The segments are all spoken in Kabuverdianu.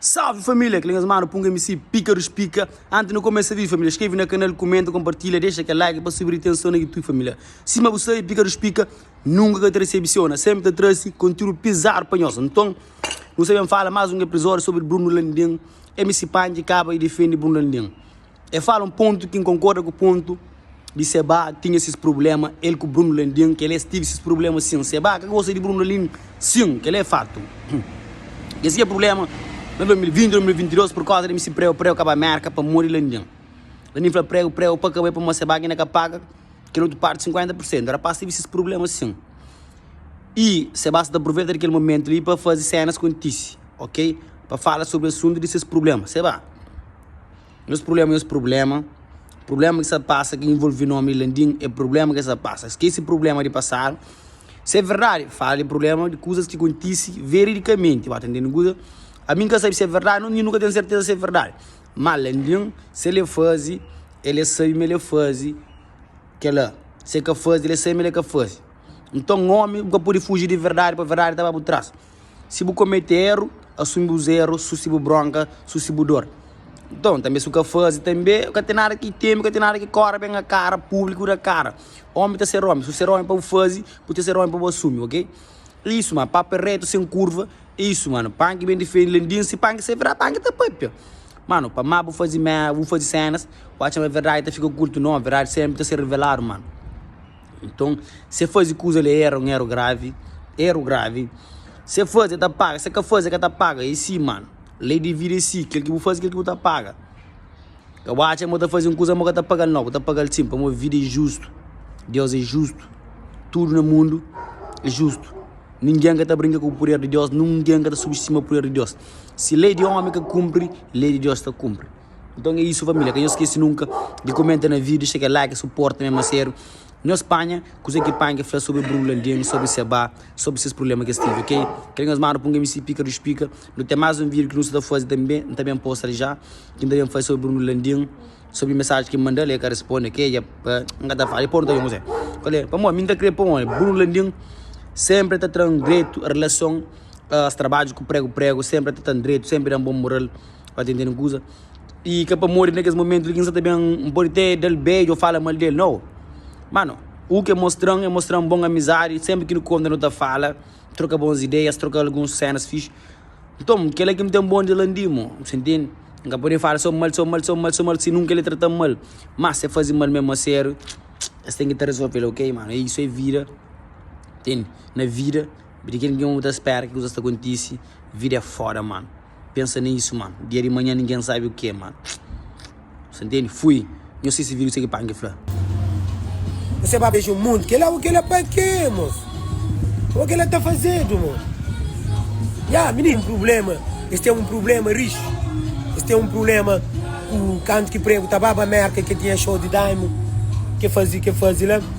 Salve família, kel nhas manu punga mc pika dos pika, antes no começa vídeo família escreve na canal comenta compartilha deixa kel like pa subir atenção na youtube família sima bu sabe pika dos pika nunca ka ta decepciona sempre ta trazi conteúdo pizado pa nhos então nu sa bem fala mais um episódio sobre Bruno Landim mc Pandy caba e defende Bruno Landim. El fala un pontu ki N konkorda ku pontu di Seba tinha ses prubléma el ku Bruno Landim kel-la es tevi ses prubléma sin Seba ka gosta di Bruno Landim sin kel-la é fatu es tinha prubléma na 2020 2022 pur koza di misi preu preu ka ba Mérka pamodi Landim Landim fla preu preu pa ka bai pamodi Seba ki inda ka paga kel otu parti 50 pur sentu rapaz tevi ses prubléma sin y Seba sa ta pruveta di kel momentu li pa faze sénas kontise ok pa fala sobri asuntu di ses prubléma Seba. Nhos prubléma, nhos prubléma Prubléma ki sa pasa ki involvi nomi Landim é prubléma ki sa pasa Skese prubléma di pasadu Si é verdadi, fala di prubléma di kuzas ki kontise veredikamenti Ba ta ntende un kuza Ami N ka sabe si é verdadi nau Mi nu ka ten serteza si é verdadi Má Landim, si el é faze, el é sabe ma el é faze kel-la Si el ka faze, el é sabe ma el é ka faze Nton, ómi, bu ka pode fuji di verdadi Pa verdadi ta ba bu tras. Si bu komete eru, asumi bus eru, susi bu bronka, susi bu dor. Nton, tanbe si bu ka faze, tanbe ka ten nada ki teme, ka ten nada ki kore ben na kara publiku da kara. Omi ta ser omi, si bu ser omi pa bu faze, bu ta ser omi pa bu asumi, ok? É isu mano, pape é retu sen kurva, é isu mano, pan ki ben difende Landim, si pan ki ser verdade, pan ki ta papia. Mano, pa ma bu faze merda, bu faze senas, bu acha ma verdade ta fika kurtu, non, verdade senpri ta ser riveladu mano. Nton, si el faze kuza li, el éra un éru gravi, éru gravi. Si el faze, el ta paga, si el ka faze, el ka ta paga. É si, mano. Lei di vida é si, kel ki bu faze, kel ki bu ta paga. Ka bu atxa ma bu ta faze un kuza ma bu ka ta paga-l? Nau, bu ta paga-l sin, pamodi vida é justu, Deus é justu, tudu na mundu é justu. Ningen ka ta brinka ku puder di Deus, ningen ka ta subistima puder di Deus. Si lei di ómi ka kunpri, lei di Deus ta kunpri. Nton é isu família ka nhos skese nunka di komenta na vídeo xega like suporta mi ma sedu nhos panha kuzê ki panha fla sobri brulandenu sobri se ba sobri ses prubléma ki es tevi ok kre nhos madu pa un msp pika dus pika nu ten más un vídeo ki nu sa ta faze tanbe n ta ben postal ja ki n ta ben fla sobri brulandenu sobri mesajen ki n mandal el ka responde ok dja pa n ka ta fala e ponta dja kuzê kal é pamodi mi n ta kre pon el brulandenu senpri ta tra un dretu relason trabadju ku pregu pregu senpri ta tra dretu senpri da bon mural. pa tenta N kuza i ka pamodi na kes momentu li ki N sta ta ben N pode te da-l beju ô fala mal di el, nau! Mano, u ke mostra-m é mostra-m bon amizadi, senpri ki nu konta nu ta fala, troka bons ideias, troka alguns sénas fixi. Nton, kel-la ki N ten bon di el andi, mo, si ntende, N ka pode fala so mal, so mal, so mal, so mal, si nunka el é trata-m mal. Má si el faze-m mal mésmu a sériu, es ten ki ta rezolve-l, ok, mano, é isu é vida, ntende? Na vida, bu ten ki ten algen un ki bu ta spera ki kuzas ta kontise, vida é fóda, mano. Pensa na isso man dia di manhã ninguém sabe o que man você entende fui nhos se civil isso que punk fla. Você ba beju munt kel la o kel la pa ke mos o kel la ta fazedu mos ya mi nin problema es tem um problema rixo es tem um problema ku kantu ki prego ta baba merka ke tinha show di daimo ke fazi ke fazi la.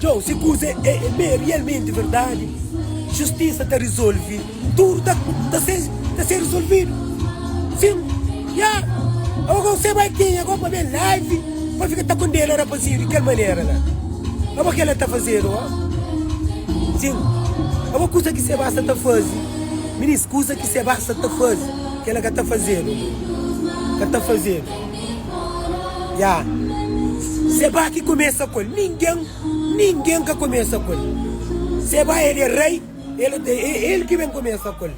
Txeu si kuze é mé rialmenti verdadi, justisa ta rizolvi tudu ta ta se ta se rizolvidu sin ya ago se bai ten ago pa ben live pa fika ta kondena rapazinhu di kel manera la ago kel la ta fazedu ó sin ago kusa ki sebasa ta fazi minis kusa ki sebasa ta fazi kel la ka ta fazedu ka ta fazedu. Ya. Sebá ki kumesa ku el. Ningen, ningen ka kumesa ku el. Sebá el é rei, el é é el ki ben kumesa ku el.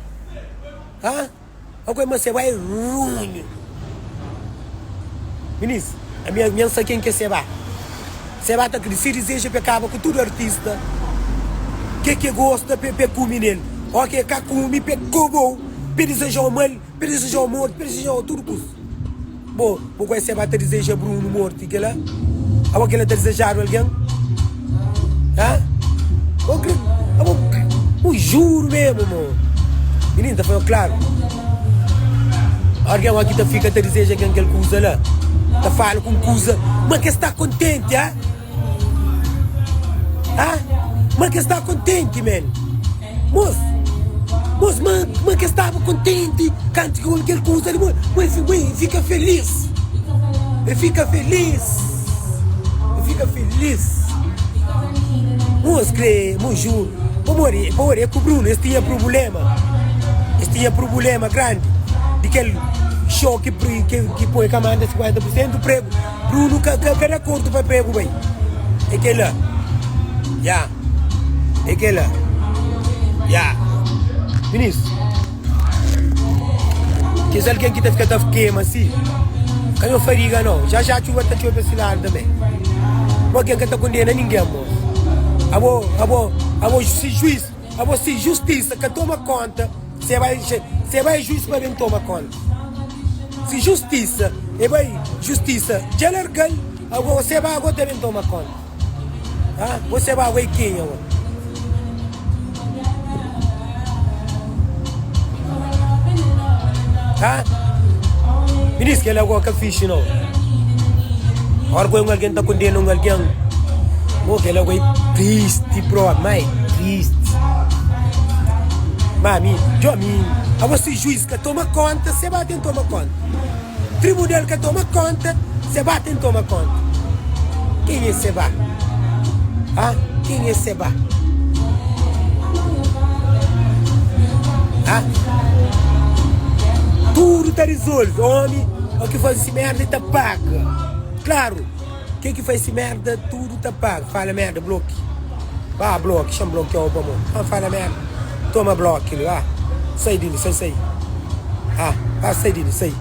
Ha? Ôku é ma Sebá é runhu. Minis, ami ami N sa ken ki é Sebá. Sebá ta krê, se dizeja pa el kaba ku tudu artista, ke ki el gosta pa pa el kume nel. Óki el ka kume, pa el koba-u, pa el dizeja-u mal, Pe desejau morti pe desejau a tudu kustu Bo bo kua seba ta deseja Brunu morti kela Abo kela ta desejadu algen ha Bo kre abo Bo juru memu mo Minin ta fla-u klaru Algen oki ta fika ta deseja algen kel kuza la Ta fala ku un kuza ma ke sta kontenti ha Ah, ma kes tá kontenti, man. Mos, mos, ma, ma kes tava kontenti kanti ki obi kel kuza li, mos, mos, fi- mos, e fika feliz. E fika feliz. E fika feliz. Mos kre, mos jur, pamodi, pamodi e ku Bruno es tinha prubulema. Es tinha prubulema grandi di kel show ki, pri- ki, ki poi Kamanda 50% pregu. Bruno ka ka ka da akordu pa pé bu bai é kel la yeah é kel la yeah Minis kes algen ki ta fika ta kema si ka nhos fadiga no já já txuba ta txobe si ladu tanbe bo algen ka ta kondena ningen mos abo abo abo si juiz Abo si justisa ka toma konta se bai se bai jus pa ben toma konta si justisa e bai justisa dja largal ago se bai ago ta ben toma konta ha bo se bai ago e kenha ago. Ha? Mi diz kel ago ka fixi no. Ora ku alguém tá condenando alguém. Pô, kel ago é triste, bro, mas triste. Mami, Jomi, a você juiz que toma conta, você vai ter que tomar conta. Tribu del ka toma konta, Sebá ten toma konta. Ken é Sebá? Ha? Ken é Sebá? Ha? Tudu ta rizolve, omi o ki faze si merda e ta paga. Klaru. Ke ki fai si merda tudu ta paga fala merda bloki ba bloki xan blokiau pamo xan fala merda toma bloki li ba sai dili sai sai ha ba sai dili sai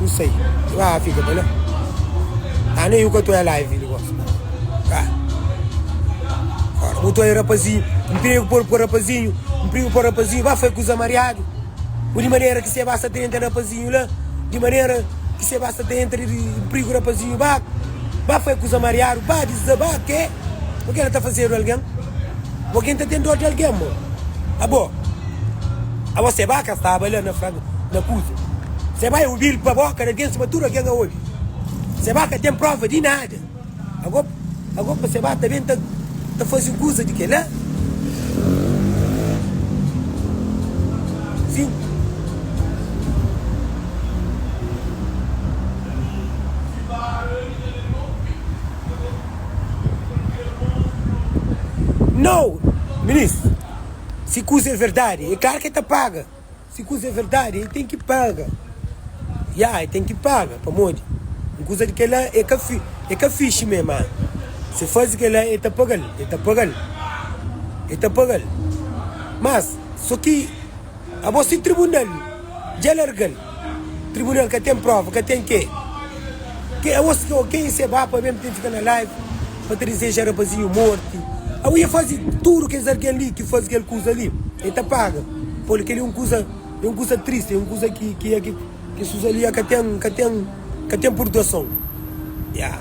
nu sai ba fika pa la ha ne yu ka toia live li gosta ba ora bu toia rapazinho mprego por por rapazinho mprego por rapazinho ba fai kuza mariadu bu di manera ki se ba sa 30 rapazinho Rapazinhu la di manera ki se basta ta entra di prigu rapazinhu ba ba fai kusa mariadu ba disa ba ke o kela ta fazedu algen bo ken ta ten dó di algen bo abo abo se ba ka staba la na fraga na kuza se ba é ubil pa boka di algen sima tudu algen a obi se ba ka ten prova di nada. Ago pa Sebá ta ben ta faze un kuza di kel-la. Sinku. Nau, Minis, si kuza é verdadi, é klaru ki el ta paga. Si kusa é verdadi, el ten ki paga. Ya, el ten ki paga. Pamodi un kusa di kel-la el ka, el ka fixi mê. Má si el faze kel-la, el ta paga-l. El ta paga-l. El ta paga-l. Mas, sô ki abo, si tribunal dja larga-l, tribunal ka ten próva, ka ten ke. Ke, aos ke, o ke insebar pa ben ten fika na live. pa ta dizeja rapazinhu morti. Awe e fazi tudu kes algen li ki fazi kel kuza li, e ta paga. Poli kel li un kuza, e un kuza tristi, e un kuza ki ki e ki kes kuza li e ka ten, ka ten, ka ten purduason. Ya,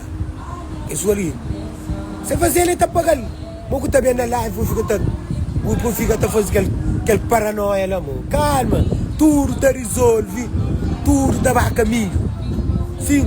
kes kuza li se fazi el e ta pagal. Mo ku ta ben na live poi fika ta, poi poi fika ta fazi kel, kel paranoia la mo. Kalma, tudu ta rizolvi, tudu ta ba kamiu. Fin.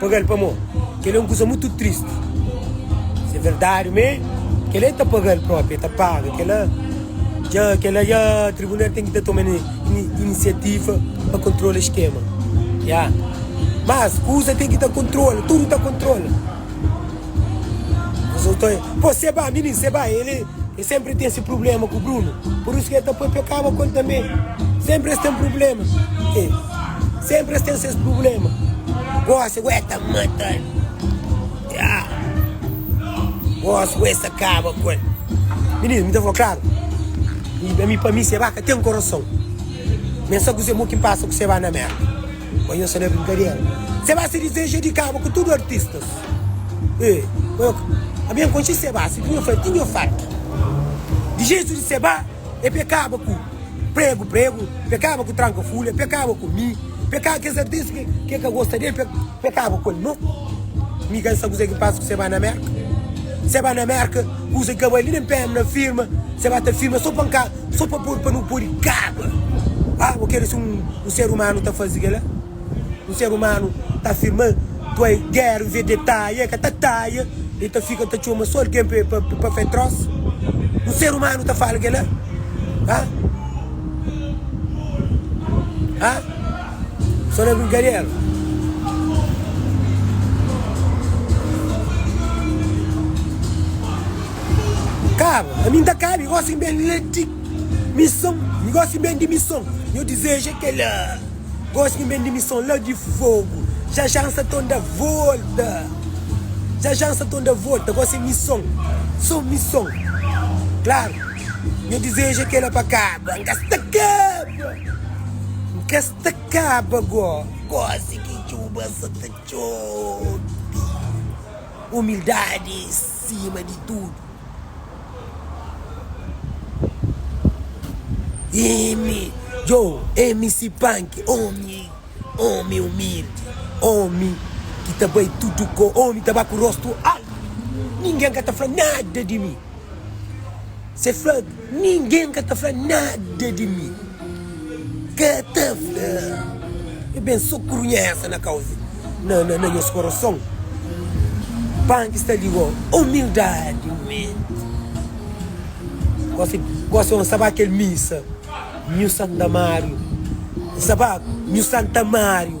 Paga-l pamo. Kel-li é un kusa mutu tristi. Si é verdadi mé, kel-la el ta paga-l propi. El ta paga kel-la. Dja kel-la dja tribunal ten ki ta toma inisiativa pa kontrola skema. Ya. Mas kusa ten ki ta kontrola, tudu ta kontrola. Nos autoridadi. Pô, se ba, minin, se ba. El é. Sempre tem se problema ku Bruno por isso que ele ta poi pe kaba ku el também sempre eles tem problema e sempre eles tem ses problema gosi agora el ta mata el ah gosi agora el sa kaba ku el menino mi ta fala claro mi pa mi se ba ka tem coração men sa kuzê mo ki passa ku se ba na merda Ma nhos sa da brinkadera. Sebasi dizeja di kaba ku tudu artistas. E pa yo ka ben konxe Sebasi, ki nho fla ti nho farta. Dijetu di Seba e pe kaba ku pregu pregu, pe kaba ku tranka fule, pe kaba ku mi, pe kaba kes artista ki ki ka gosta del, pe pe kaba ku el. No, mi ka sa kuze ki pasa ku Seba na Merka. Seba na Merka, kuze ki ka bai li nen pena firma. Seba ta firma so pa nka. Só pa pôr pa nu pode kaba. Ah, bo kere si un ser umanu ta faze kel-la? Un ser umanu ta afirma, Tuai, Geru, envês di el taia, el ka ta taia, el ta fika ta txoma sô algen pa fé trós. Un ser umanu ta fala kel-la? Ah? Ah? Sô na brinkadera? Kaba, ami N ta kaba, i gosi N ben la di mison, i gosi N ben di mison, nho dizeju é kel-la, gosi N ben di mison la di fogu, jaja N sta ta onda volta, jaja N sta ta onda volta, gosi é mison, so mison, klaru, nho dizeju é kel-la pa kaba, N ka sta ta kaba, N ka sta ta kaba go, gosi ki djuba sa ta txobi, umildadis. Sima di tudu, M, Djo, MC Punk, omi, omi umildi, omi ki ta bai tudu kó, omi ta ba ku rostu altu, ningen ka ta fla nada di mi. Se fla, Ningen ka ta fla nada di mi. Ka ta fla. E ben so krunhesa na kauza, na, na, na nhos korason. Pan ki sta li go, umildadi menti. Gosi, gosi N saba kel misa, Nhu Santa Mário. N saba, Nhu Santa Mário.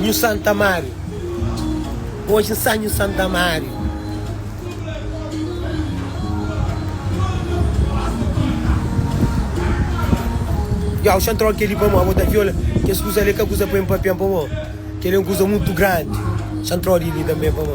Nhu Santa Mari Oji n sa nhu Santa Mari Jau xa n troka kel-li pamó Bo ta viola Kes kuza li é ka kuza pa N papia-m pa bo Kel-li é un kuza mutu grandi Xa n troka li tanbe pamó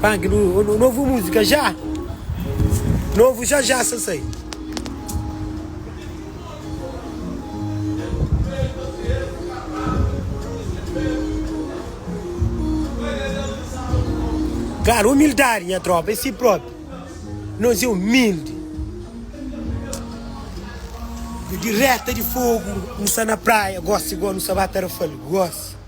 Pag nu novu música já Novu já já sa sai Claro, humildade nha tropa, é si próprio Nós é humilde Direta di fogo nu sa na praia Gosi igual nu sa ba ta rafal Gosi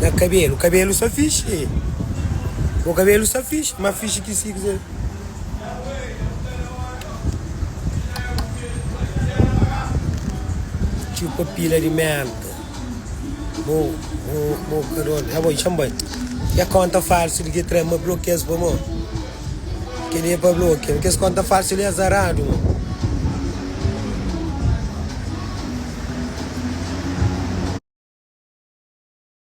Na kabelu, kabelu sa fixi Bo kabelu sa fixi, ma fixi ki si kuzê Txu pa pila di merda Bo, bo, bo, ka dóna Abo, inxa-m bai Nha kónta falsu di ki tra-m ma blokia-s pamó Kel-li é pa blokia-m Kes kónta falsu li é azaradu